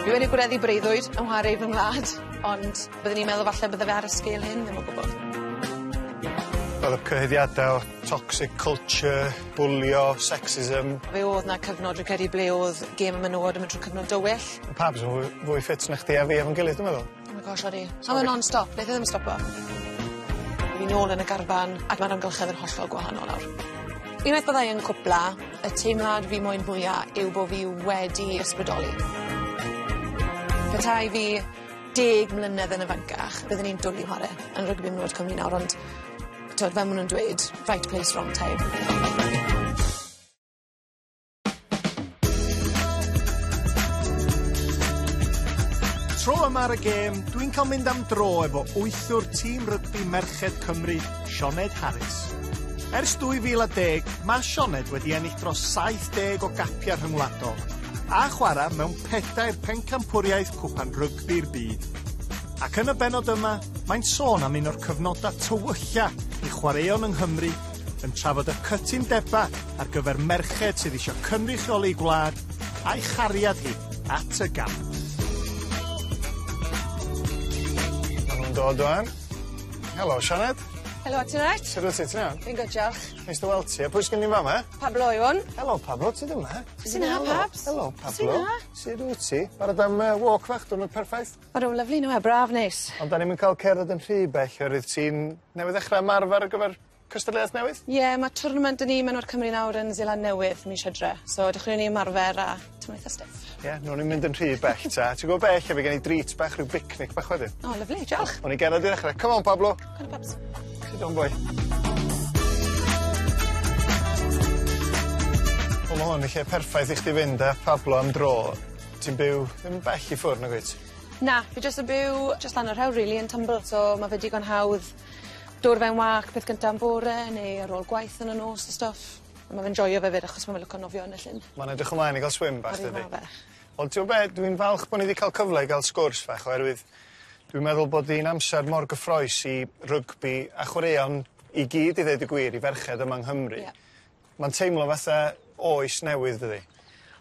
Fi wedi gwneddu breuddwyd yn nghwar ei fy ngwlad, ond byddwn i'n meddwl falle bydde fe ar y sgêl hyn, ddim o gwbwl. Wel y cyhuddiade o toxic culture, bwlio, sexism. Fe o'dd 'na cyfnod dwi'n credu ble o'dd gêm y menywod yn mynd trw cyfnod dywyll. Pawb jys yn fwy fwy ffit na chdi a fi efo'n gilydd dwi meddwl. Oh my gosh odi. A ma' non stop neith e ddim stopo. Ni nôl yn y garfan ac ma'r amgylchedd yn hollol gwahanol nawr. Unwaith byddai yn cwpla y teimlad fi moyn hwya yw bo' fi wedi ysbrydoli. Petai fi deg mlynedd yn ifancach byddwn i'n dwli chware yn rygbi am Cymru nawr ond t'od fel ma' nw'n dweud right place wrong time. Tro yma ar y gêm, dwi'n cael mynd am dro efo wythwr tîm rygbi merched Cymru, Sioned Harris. Ers 2010, mae Sioned wedi ennill dros 70 o gapiau rhyngwladol a chwarae mewn pedair pencampwriaeth cwpan rygbi'r byd. Ac yn y benod yma, mae'n sôn am un o'r cyfnodau tywylla i chwaraeon yng Nghymru yn trafod y cytundebau ar gyfer merched sydd eisiau cynrychioli ei gwlad a'i chariad hi at y gamp. Maen nhw'n dod o'n. Helo, Sianed. Helo, ti'n rhaid? Sut wyt ti, ti'n iawn? Fi'n gwybod, diolch. Neis dy weld ti. A pwy sy'n ni'n fama? Pablo yw hwn. Helo, Pablo, ti ddim yma? Sy'n ha, Pabs? Helo, Pablo. Sut wyt ti? Barod am uh, walk fach, dwi'n perffaith. Mae rhywun lyflu nhw e, braf neis. Ond da ni'n cael cerdded yn rhy bell, oherwydd ti'n newydd ddechrau ymarfer ar gyfer cystadleuaeth newydd? Ie ma' twrnament 'da ni Menwod Cymru nawr yn Seland Newydd mis Hydre so edrych i ni ymarfer a t'mo' itha stiff. Ie newn ni'm mynd yn rhy bell ta. Ti gwbo be' ella by' gen i drît bach ryw bicnic bach wedyn. O lyfli diolch. O'n i genod i ddechre. Come on Pablo. Come on Pabs. Sit down boy. Wel ma' hwn y lle perffaith i chdi fynd a Pablo am dro. Ti'n byw ddim bell i ffwr' nagwyt? Na fi jyst yn byw jyst lan y rhewl rili yn Tumbl so ma' fe digon hawdd Dod fe'n wâc peth gynta yn fore neu ar ôl gwaith yn y nos a stwff. A ma' fe'n joio fe 'fyd achos ma' fe'n lico nofio yn y llyn. Ma'n edrych ymlaen i ga'l swim bach dydi? Ydi ma' fe. Wel t'mo' be' dwi'n falch bo' ni 'di ca'l cyfle i ga'l sgwrs fach oherwydd dwi'n meddwl bod 'i'n amser mor gyffrous i rygbi a chwaraeon i gyd i ddeud y gwir i ferched yma yng Nghymru. Ie. Ma'n teimlo fatha oes newydd dydi?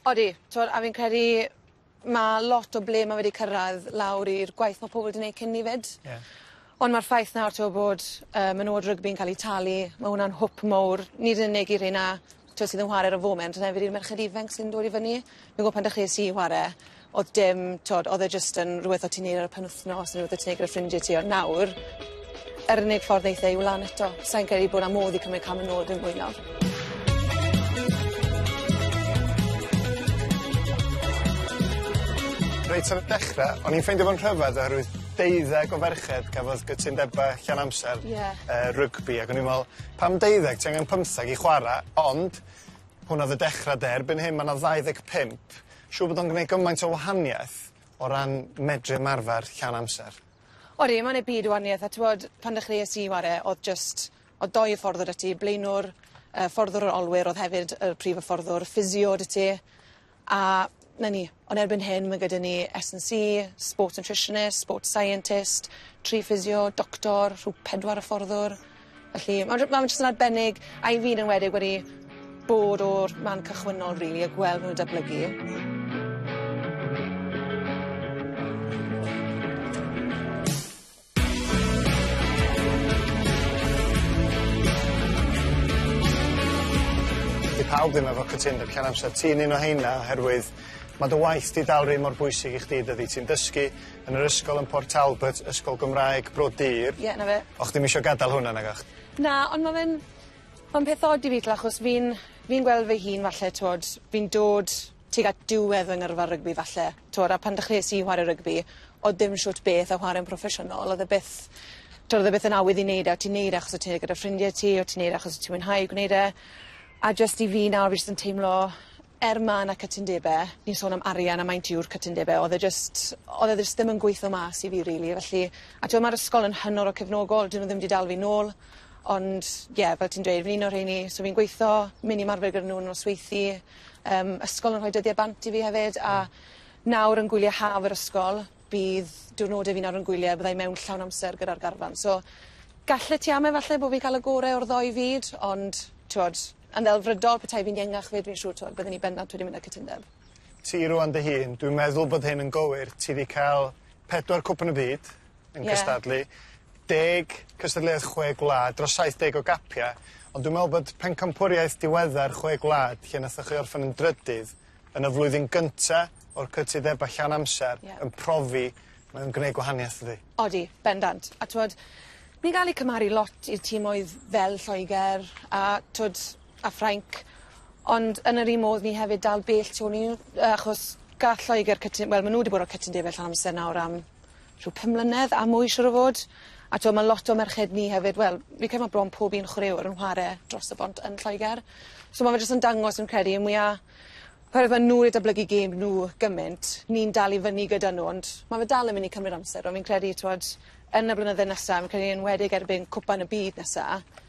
Odi t'mod a fi'n credu Ma' lot o ble ma' wedi cyrradd lawr i'r gwaith ma' pobol 'di neud cyn 'ny 'fyd. Ie. Ond ma'r ffaith nawr t'wo' bod yy menywod rygbi'n ca'l 'u talu ma' wnna'n hwp mowr nid yn unig i rheina t'wo' sydd yn whare ar y foment ond hefyd i'r merched ifenc sy'n dod i fyny. Fi'n gwel' pan dechreues i whare o'dd dim t'wod o'dd e jyst yn rwbeth o' ti'n neud ar y penwthnos ne' rwbeth o' ti'n neud gyda ffrindie ti ond nawr Yr unig ffordd neith e yw lan eto. Sai'n credu bod 'na modd i cymryd cam yn ôl dim mwy nawr. Reit ar y dechre o'n i'n ffeindio fo'n rhyfedd oherwydd deuddeg o ferched gafodd gytundeba llawn amser... Ie. ...yy rygbi ac o'n i'n me'wl pam deuddeg ti angen pymtheg i chwara ond hwnna o'dd y dechra 'de erbyn hyn ma' 'na ddau ddeg pump siŵr bod o'n gneud gymaint o wahanieth o ran medru ymarfer llawn amser. Odi, mae'n ei byd o wahaniaeth a t'wod pan ddechreues i chware o'dd jyst o'dd dou hyfforddwr 'da ti, blaenwr yy fforddwr yr olwyr o'dd hefyd y prif yfforddwr, physio 'da ti a 'na ni. Ond erbyn hyn ma' gyda ni Ess and See, sports nutritionist, sports scientist, tri physio, doctor, rhyw pedwar yfforddwr. Felly ma' j- ma' fe jyst yn arbennig a i fi yn enwedig wedi bod o'r man cychwynnol rili a gweld nw'n datblygu. Dyw pawb ddim efo cytundeb llawn amser. Ti'n un o heina oherwydd ma' dy waith di dal rhy mor bwysig i chdi dydi ti'n dysgu Yn yr ysgol yn Port Talbot, Ysgol Gymraeg Bro Dur. Ie, 'na fe. O'ch chdi'm isio gadal hwnna nagoch? Na, ond ma' fe'n ma'n peth od i fi t'mo' achos fi'n fi'n gweld fy hun falle t'wod fi'n dod tuag at diwedd fy ngyrfa rygbi falle t'wod a pan dechreues i whare rygbi o'dd dim shwt beth â whare'n proffesiynol o'dd e byth t'wod o'dd e byth yn awydd i neud e o' ti'n neud e achos o' ti gyda ffrindie ti o' ti'n neud e achos o' ti mwynhau gwneud e a jyst i fi nawr fi jyst yn teimlo er ma na cytundebe, ni'n sôn am arian a maint yw'r cytundebe, odd e jyst, odd e jyst ddim yn gweitho mas i fi rili, felly, a t'mod ma'r ysgol yn hynod o cefnogol, 'dyn nw ddim 'di dal fi nôl, ond ie fel ti'n dweud fi'n un o rheini, so fi'n gweitho, myn' i ymarfer gyda nw yn nosweithi, yym ysgol yn rhoi dyddie bant i fi hefyd, a nawr yn gwylie haf yr ysgol, bydd diwrnode fi'n aro'n gwylie byddai mewn llawn amser gyda'r garfan so gallet ti am efalle bo' fi'n ca'l y gore o'r ddou fyd ond t'wod yn ddelfrydol petai fi'n iengach 'fyd fi'n siŵr t'wod bydden i bendant wedi mynd â cytundeb. Ti rŵan dy hun dwi'n meddwl bod hyn yn gywir ti 'di ca'l pedwar cwpan y byd yn cystadlu. Ie. Deg cystadleuaeth chwe gwlad dros saith deg o gapia ond dwi'n me'wl bod pencampwriaeth diweddar chwe gwlad lle nathoch chi orffen yn drydydd yn y flwyddyn gynta o'r cytudeba llawn amser yeah. yn profi mae o'n gwneud gwahaniaeth ydi. Odi, bendant. A twod, ni'n gael ei cymaru lot i'r tîmoedd fel Lloegr a twod, a Ffrainc, ond yn yr un modd ni hefyd dal bell tu ôl i nhw, achos gall Lloegr cytun... Wel, maen nhw wedi bod o'r cytundebau llawn amser nawr am rhyw pum mlynedd a mwy siŵr o fod a t'wo' ma' lot o merched ni hefyd wel fi'n credu ma' bron pob un chwaraewr yn whare dros y bont yn Lloeger so ma' fe jyst yn dangos fi'n credu y mwya oherwydd ma' nw 'di datblygu gêm nw gymint ni'n dal i fyny gyda nw ond ma' fe dal yn myn' i cymryd amser on' fi'n credu t'wod yn y blynydde nesa fi'n credu enwedig erbyn Cwpan y Byd nesa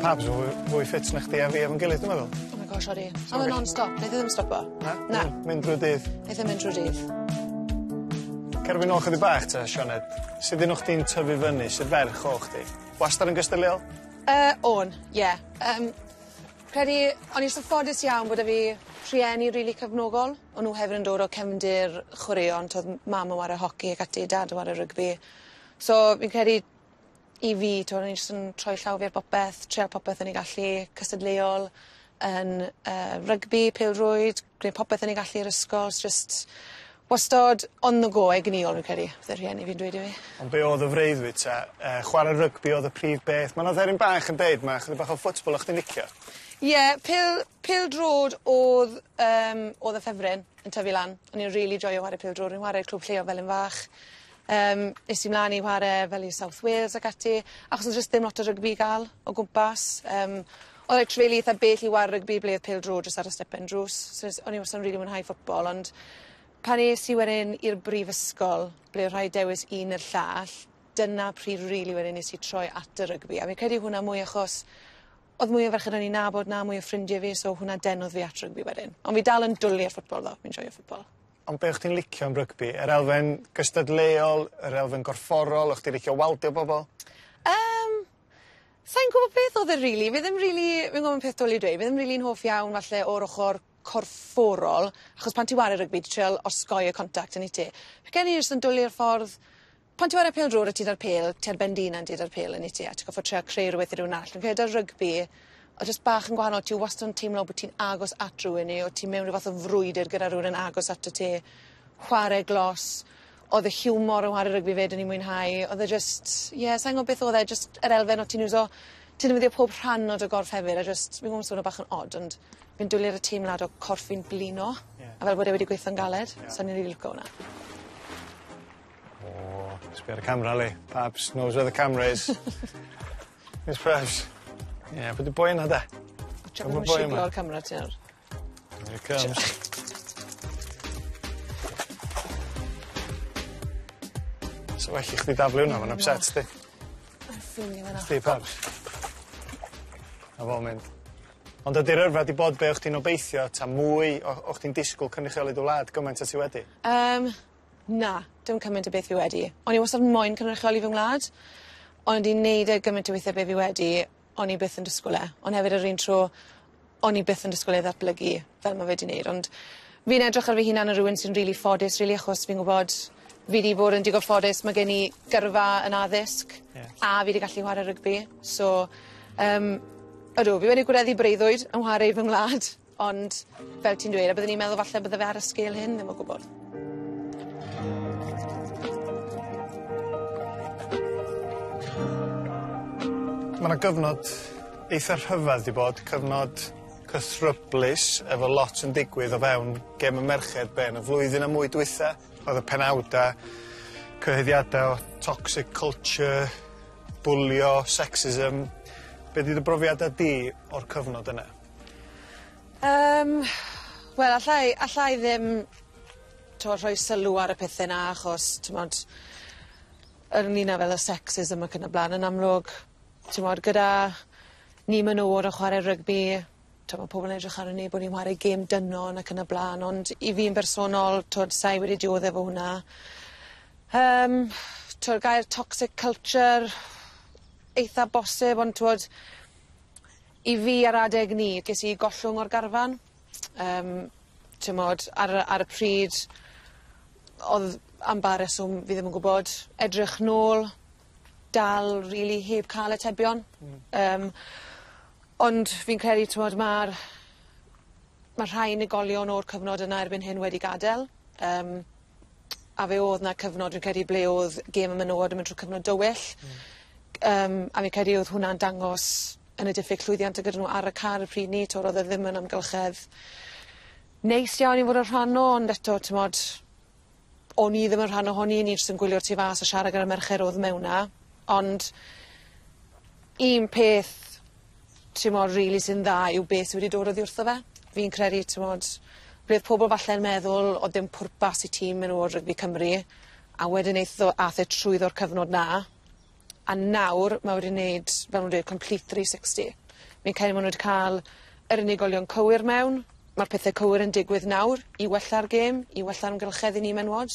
Pabs yn fwy fwy ffit na chdi a fi efo'n gilydd dwi meddwl. Oh my gosh odi. Sori. O'dd e non stop neith e ddim stopo. Na? Na. Mynd drwy'r dydd. Neith e mynd trwy'r dydd. Cer â fi nôl chydig bach te Sioned. Sud un o chdi'n tyfu fyny sydd ferch o chdi? Wastad yn gystyliol? Yy o'n ie yym credu o'n i jys yn ffodus iawn bod 'da fi rhieni rili cefnogol o' nw hefyd yn dod o cefndir chwaraeon t'wod m- mam yn ware hoci ac ati dad yn ware rygbi so fi'n credu i fi t'wo' o'n i jyst yn troi llaw fi ar bopeth trial popeth o'n i gallu cystadleuol yn yy rygbi pêl-rwyd gwneud popeth o'n i gallu i'r ysgol s- jyst wastod on the go egnïol fi'n credu bydde rhieni fi'n dweud i fi. On' be' o'dd y freuddwyd te? Yy chware rygbi o'dd y prif beth ma' 'na dderyn bach yn deud ma' chydig bach o football o' chdi'n licio. Ie pêl pêl-drod o'dd yym o'dd y ffefryn yn tyfu lan o'n i'n rili joio 'ware pêl-drod o'n i'n 'ware i clwb lleol fel yn fach Yym, es i mlan i whare fel i South Wales ac ati, achos o'dd jyst ddim lot o rygbi i ga'l o gwmpas. Yym, o'dd like tref rili itha bell i whare rygbi ble o'dd pêl-drod jyst ar y stepen drws. So es... O'n i wastad yn rili mwynhau football ond pan es i wedyn i'r brifysgol ble o' rhaid dewis un ne'r llall, dyna pryd rili wedyn nes i troi at y rygbi, a fi credu hwnna mwy achos o'dd mwy o ferched o'n i'n nabod 'na, mwy o ffrindie fi, so hwnna denodd fi at rygbi wedyn. Ond fi dal yn dwli ar football tho, fi'n joio football. Ond be' o' chdi'n licio am rygbi? Yr elfen gystadleuol yr elfen gorfforol o' chdi licio waldio bobol? Yym sai'n gwbo beth odd e rili fi ddim rili fi'n gwbo ma'n peth dwl i dweud fi ddim rili'n hoff iawn falle o'r ochor corfforol achos pan ti 'ware rygbi ti trial osgoi y contact on'd yt ti? Fi gen i jyst yn dwli ar ffordd Pan ti ware pêl drwr a ti 'da'r pêl ti ar ben dy unan ti 'da'r pêl yn wyt ti a ti goffod trio creu rwbeth i rywun arall. Fi'n credu 'da'r rygbi o jyst bach yn gwahanol ti wastod yn teimlo bo' ti'n agos at rywun neu o' ti mewn ryw fath o frwydyr gyda rywun yn agos atat ti. Chware glos odd y hiwmor o ware rygbi 'fyd o'n i'n mwynhau odd e jyst ie sai'n gwbo beth odd e jyst yr elfen o' ti'n iwso ti ddefnyddio pob rhan o dy gorff hefyd a jyst fi'n gwbo ma'n swno bach yn od ond fi'n dwli ar y teimlad o corff fi'n blino. Ie. A fel bod e wedi gweitho'n galed. Ie. Sai'n rili lico wnna. O, sbia ar y camera yli. Pabs knows where the camera is. Where's Pabs? Ie, pw 'di boi yna de? Watsiwch bo' nw'n siglo'r camera ti nawr. Here it comes. Sa well i chdi daflu wnna, ma'n ypset di. Ma'n ffili fo 'na. Chdi Pabs. Na fo mynd. Ond ydi'r yrfa 'di bod be' o' chdi'n obeithio ta mwy o o' chdi'n disgwl cynrychioli dy wlad gymaint a ti wedi? Yym Na, dim cymaint a beth fi wedi. O'n i wastad moyn cynrychioli fy ngwlad on' wedi neud e gymaint o withe be' fi wedi o'n i byth yn disgwl e. On' hefyd yr un tro o'n i byth yn disgwl e ddatblygu fel ma' fe 'di neud ond fi'n edrych ar fy hunan yn rywun sy'n rili ffodus rili achos fi'n gwbod fi 'di bod yn digon ffodus ma' gen i gyrfa yn addysg. Ie. A fi 'di gallu whare rygbi so yym odw fi wedi gwireddu breuddwyd yn whare i fy ngwlad. Ond fel ti'n dweud a byddwn i'n meddwl falle bydde fe ar y sgêl hyn ddim o gwbwl. Ma' 'na gyfnod eitha rhyfedd 'di bod cyfnod cythryblus efo lot yn digwydd o fewn gem y merched be' yn y flwyddyn a mwy dwytha o'dd y penawda cyhoeddiada o toxic culture bwlio sexism be' 'di dy brofiada di o'r cyfnod yna? Yym wel alla i alla i ddim t'mo' rhoi sylw ar y pethe 'na achos t'mod ynglŷn â fel y sexism ac yn y bla'n yn amlwg t'mod gyda ni menywod yn chware rygbi t'mo' ma' pobol yn edrych arnon ni bo' ni'n ware gêm dynon ac yn y bla'n ond i fi'n bersonol t'od sai wedi diodde efo hwnna. Yym t'wod gair toxic culture eitha bosib ond t'wod I fi ar adeg 'ny, ges i gollwng o'r garfan yym t'mod ar y ar y pryd odd am ba reswm fi ddim yn gwbod edrych nôl dal rili heb ca'l atebion. Hmm. Yym ond fi'n credu t'mod ma'r ma' rhai unigolion o'r cyfnod yna erbyn hyn wedi gadel yym a fe o'dd 'na cyfnod fi'n credu ble o'dd gêm y menywod yn mynd trw cyfnod dywyll. Hmm. G- yym a fi'n credu odd hwnna'n dangos yn y diffyg llwyddiant o' gyda n'w ar y car y pryd 'ny t'w'rdd e ddim yn amgylchedd neis iawn i fod yn rhan o ond eto t'mod o'n i ddim yn rhan o hon i o'n i js yn gwylio'r tu fas a siarad gyda'r merched o'dd mewn 'na ond un peth t'mod rili sy'n dda yw beth sy wedi dod oddi wrtho fe. Fi'n credu t'mod roedd pobl falle'n meddwl o'dd dim pwrpas i tîm menywod rygbi Cymru a wedyn eith o ath e trwyddo'r cyfnod 'na a nawr ma' wedi neud fel nw'n dweud complete three sixty. Fi'n credu ma' nw wedi ca'l yr unigolion cywir mewn, ma'r pethe cywir yn digwydd nawr i wella'r gêm, i wella'r amgylchedd i ni menywod.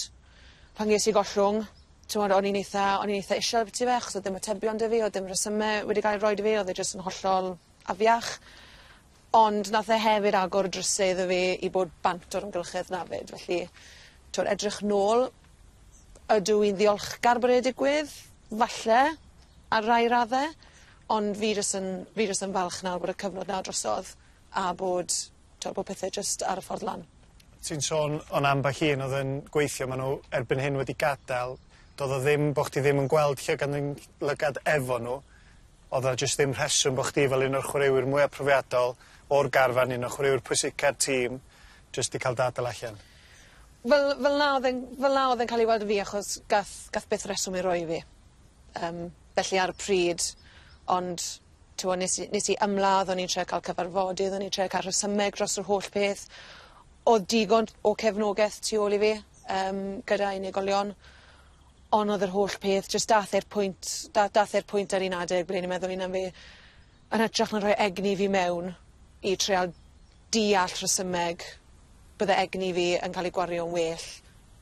Pan ges i gollwng t'mod o'n i'n eitha o'n i'n eitha isel ambytu fe achos odd dim atebion 'da fi odd dim resyme wedi ga'l 'u rhoid i fi odd e jyst yn hollol afiach. Ond nath e hefyd agor y dryse iddo fi i bod bant o'r amgylchedd 'na 'fyd felly t'wod edrych nôl ydw i'n ddiolchgar bod e 'di digwydd? Falle ar rai radde ond fi jys yn fi jys yn falch nawr bod y cyfnod 'na drosodd a bod Tra bod pethe jyst ar y ffordd lan. Ti'n sôn o'n ambell un oedd yn gweithio ma' nhw erbyn hyn wedi gadael doedd o ddim bo' chdi ddim yn gweld llygad neu lygad efo nhw oedd o jyst ddim rheswm bo' chdi fel un o'r chwaraewyr mwya profiadol o'r garfan un o chwaraewyr pwysica'r tîm jyst di cael dy adal allan? Fel fel na oedd e'n fel na oedd e'n cael ei weld yn fi achos gath gath byth rheswm ei roi i fi. Yym felly ar y pryd ond T'mo' nes i nes i ymladd o'n i'n trio ca'l cyfarfodydd o'n i'n trio ca'l rhesymeg dros yr holl peth. O'dd digon o cefnogeth tu ôl i fi yym gyda unigolion on' o'dd yr holl peth jyst dath e'r pwynt da- dath e'r pwynt ar un adeg ble o'n i'n meddwl 'un am fi yn hytrach na rhoi egni fi mewn i treial deall rhesymeg bydde egni fi yn cael ei gwario'n well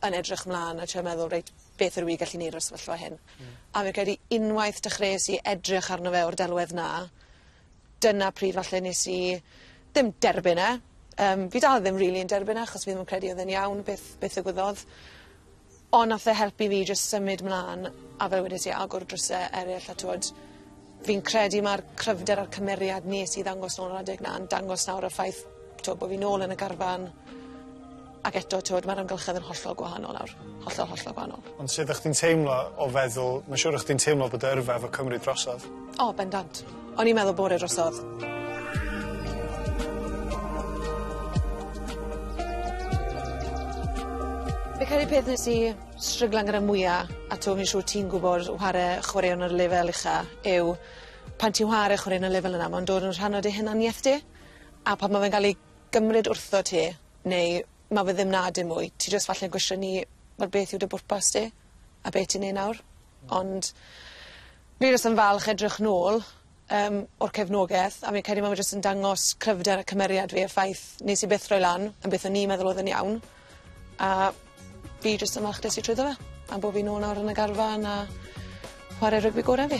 yn edrych mlan a trio meddwl reit beth yr wi gallu neud o'r sefyllfa hyn. Hmm. A fi'n credu unwaith dechreues i edrych arno fe o'r delwedd 'na dyna pryd falle nes i ddim derbyn e yym fi dal ddim rili yn derbyn e achos fi ddim yn credu odd e'n iawn beth beth ddigwyddodd. Ond nath e helpu fi jyst symud mlan a fel wedes i agor dryse eryll a t'wod fi'n credu ma'r cryfder a'r cymeriad nes i ddangos nôl yr adeg 'na yn dangos nawr y ffaith t'wo' bo' fi nôl yn y garfan ac eto t'wod ma'r amgylchedd yn hollol gwahanol nawr. Hollol hollol gwahanol. Ond sud o' chdi'n teimlo o feddwl ma' siŵr o' chdi'n teimlo bod dy yrfa efo Cymru drosodd? O bendant. O'n i'n meddwl bore drosodd. Fi credu peth nes i stryglan gyda mwya a t'o' fi'n siŵr ti'n gwbod whare chwaraeon ar y lefel ucha yw pan ti'n whare chwareon y lefel yna ma'n dod yn rhan o dy hunaniaeth di a pan ma' fe'n ga'l ei gymryd wrthot ti neu ma' fe ddim 'na dim mwy ti jyst falle'n gwestiynu wel beth yw dy bwrpas di a be' ti'n neu' nawr ond Fi jyst yn falch edrych nôl yym o'r cefnogeth a fi'n credu ma' fe jyst yn dangos cryfder a cymeriad fi y ffaith nes i byth roi lan am beth o'n i'n meddwl oedd yn iawn a fi jyst yn falch des i trwyddo fe a bo' fi nôl nawr yn y garfan a chware rygbi gore fi.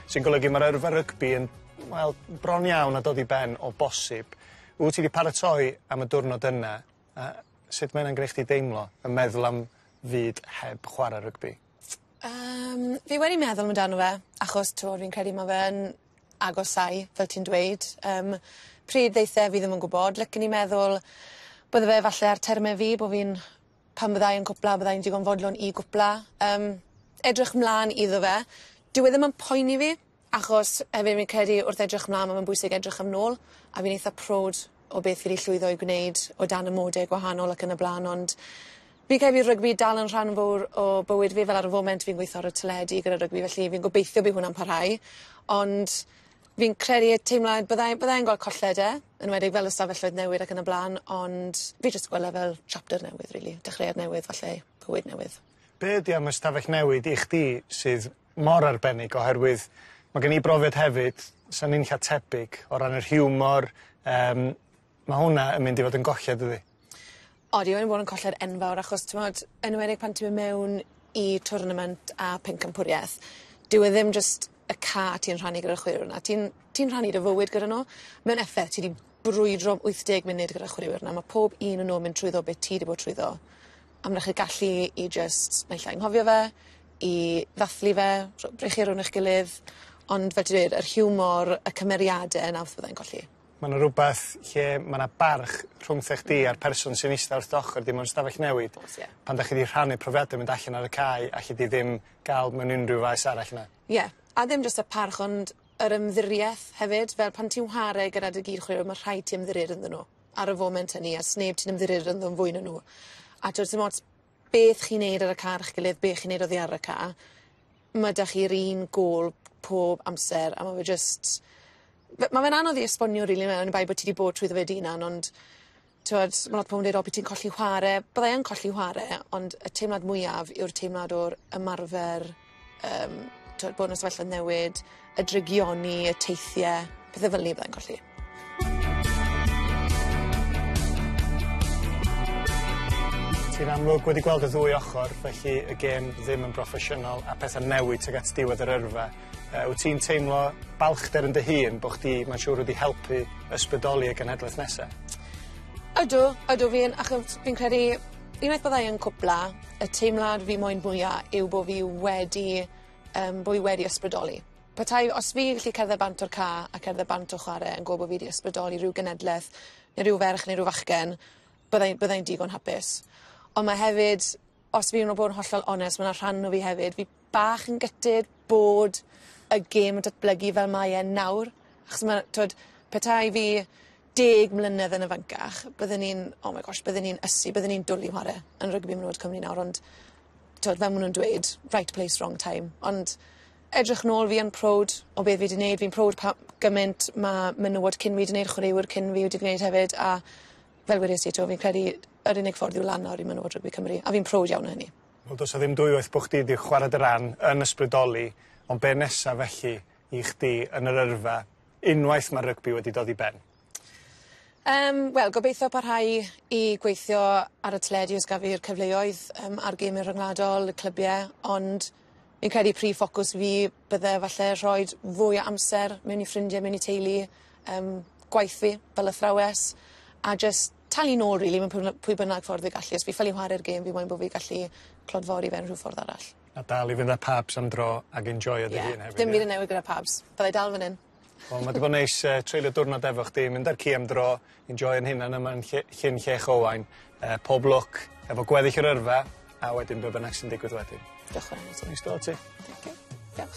Sy'n golygu ma'r yrfa rygbi yn wel bron iawn a dod i ben o bosib. Wt ti 'di paratoi am y diwrnod yna a sut mae wnna'n gneu' chdi deimlo yn meddwl am fyd heb chwara rygbi? Yym fi wedi meddwl amdano fe achos t'mod fi'n credu ma' fe yn agosáu fel ti'n dweud yym pryd ddeithe fi ddim yn gwbod licen i meddwl bydde fe falle ar terme fi bo' fi'n pan fyddai yn cwpla byddai yn digon fodlon i gwpla. Yym edrych mlan iddo fe. Dyw e ddim yn poeni fi achos hefyd fi'n credu wrth edrych mlan ma' fe'n bwysig edrych am nôl a fi'n eitha prowd o beth fi 'di llwyddo i gwneud o dan y mode gwahanol ac yn y bla'n ond fi'n credu bydd rygbi dal yn rhan fowr o bywyd fi fel ar y foment fi'n gweitho ar y teledu gyda rygbi felly fi'n gobeithio bydd hwnna'n parhau ond Fi'n credu y teimlad bydda i bydda i'n gweld colled e, yn enwedig fel y stafelloedd newid ac yn y bla'n ond fi jyst gwel' e fel chapter newydd rili dechreuad newydd falle bywyd newydd. Be' ydi am y stafell newid i chdi sydd mor arbennig oherwydd ma' gen i brofiad hefyd, sa'n ninlla tebyg o ran yr hiwmor yym Ma' hwnna yn mynd i fod yn golled dydi? Odi mae 'di bod yn colled enfawr achos t'mod enwedig pan ti myn' mewn i twrnament a phencampwrieth dyw e ddim jyst y ca' ti'n rhannu gyda'r chwilio 'na ti'n ti'n rhannu dy fywyd gyda n'w mewn effeth ti 'di brwydro am wyth deg munud gyda chwilio 'na ma' pob un o n'w yn mynd trwyddo be' ti 'di bod trwyddo a ma' 'da chi gallu i jyst naill ai nghofio fe i ddathlu fe rho- brechu rownd eich gilydd ond fel ti dweud yr hiwmor y cymeriade 'na wrth byddai'n colli. Ma' 'na rwbeth lle ma' 'na barch rhwngtha chdi a'r person sy'n ista wrth dy ochor di mewn stafell newid. O's ie. Pan 'dach chi 'di rhannu profiade mynd allan ar y cae alli di ddim ga'l mewn unryw faes arall na? Ie a ddim jyst y parch ond yr ymddirieeth hefyd fel pan ti'n whare gyda dy gyd chwaraeon ma' rhaid ti ymddirio ynddyn nw ar y foment hynny a sneb ti'n ymddirio ynddo fwy na nw a t'od sim ots beth chi'n neud ar y car chi'ch gilydd be' chi'n neud oddi ar y ca', ma' 'da chi'r un gôl pob amser a ma' fe jyst fe- ma' fe'n anodd i esbonio rili on' oni bai bo' ti 'di bod trwyddo fe dy unan ond t'wod ma' lot o pobol yn deud o by' ti'n colli chware byddai yn colli chware ond y teimlad mwyaf yw'r teimlad o'r ymarfer Yym t'wod bod yn y sefyllfa newid y drygioni y teithie pethe fel 'ny fyddai'n colli. Ti'n amlwg wedi gweld y ddwy ochor felly y gêm ddim yn broffesiynol a pethe'n newid tuag at diwedd yr yrfa yy wyt ti'n teimlo balchder yn dy hun bo' chdi mae'n siŵr wedi helpu ysbrydoli y genhedlaeth nesa? Ydw ydw fi yn achos fi'n credu Unwaith byddai yn cwpla, y teimlad fi moyn mwya yw bo fi wedi yym bo fi wedi ysbrydoli. Petai os fi'n gallu cerdded bant o'r ca' a cerdded bant o chware yn gwbo bo fi 'di ysbrydoli ryw genedleth ne' ryw ferch ne' ryw fachgen byddai byddai'n digon hapus. On' ma' hefyd os fi'n o bod yn hollol onest ma' 'na rhan o fi hefyd fi bach yn gutted bod y gêm yn datblygu fel mae e nawr achos ma' t'wod petai fi deg mlynedd yn ifancach bydden ni'n oh my gosh bydden ni'n ysu bydden ni'n dwli chware yn rygbi menywod Cymru nawr ond t'od fel ma' nw'n dweud right place wrong time ond edrych nôl fi yn proud o be' fi 'di neud fi'n proud pa- gyment ma' menywod cyn fi 'di neud chwaraewyr cyn fi wedi gneud hefyd a fel wedes i 'to fi'n credu yr unig ffordd i'w lan nawr i menywod rygbi Cymru a fi'n proud iawn o hynny. Wel do's 'a ddim dwywaith bo' chdi 'di chwara dy ran yn ysbrydoli ond be' nesa felly i chdi yn yr yrfa? unwaith mae'r rygbi wedi dod i ben? Yym, wel, gobeithio parhau i gweithio ar y teledu os gaf fi'r cyfleoedd um, ar gymau rhyngwladol, y clybiau, ond fi'n credu prif ffocws fi bydde falle rhoi fwy o amser mewn i ffrindiau, mewn i teulu, um, gwaith fi fel athrawes, a just talu nôl, rili, really, mewn pwy bynnag ffordd fi gallu. Os fi ffili chwarae'r gêm, fi moyn bod fi gallu clodfori fe yn rhyw ffordd arall. A dal i fynd â pabs am dro ag enjoio dy hun hefyd ie? Ie. Dim byd yn newid gyda pabs. Byddai dal fyn 'yn. Wel ma' 'di bod neis yy treulio diwrnod efo chdi mynd a'r ci am dro enjoio'n hunan yma yn lle Llyn Llech Owain yy pob lwc efo gweddill yr yrfa a wedyn be' bynnag sy'n digwydd wedyn. Diolch yn fawr i ti. Neis do ti. Thank you. Diolch.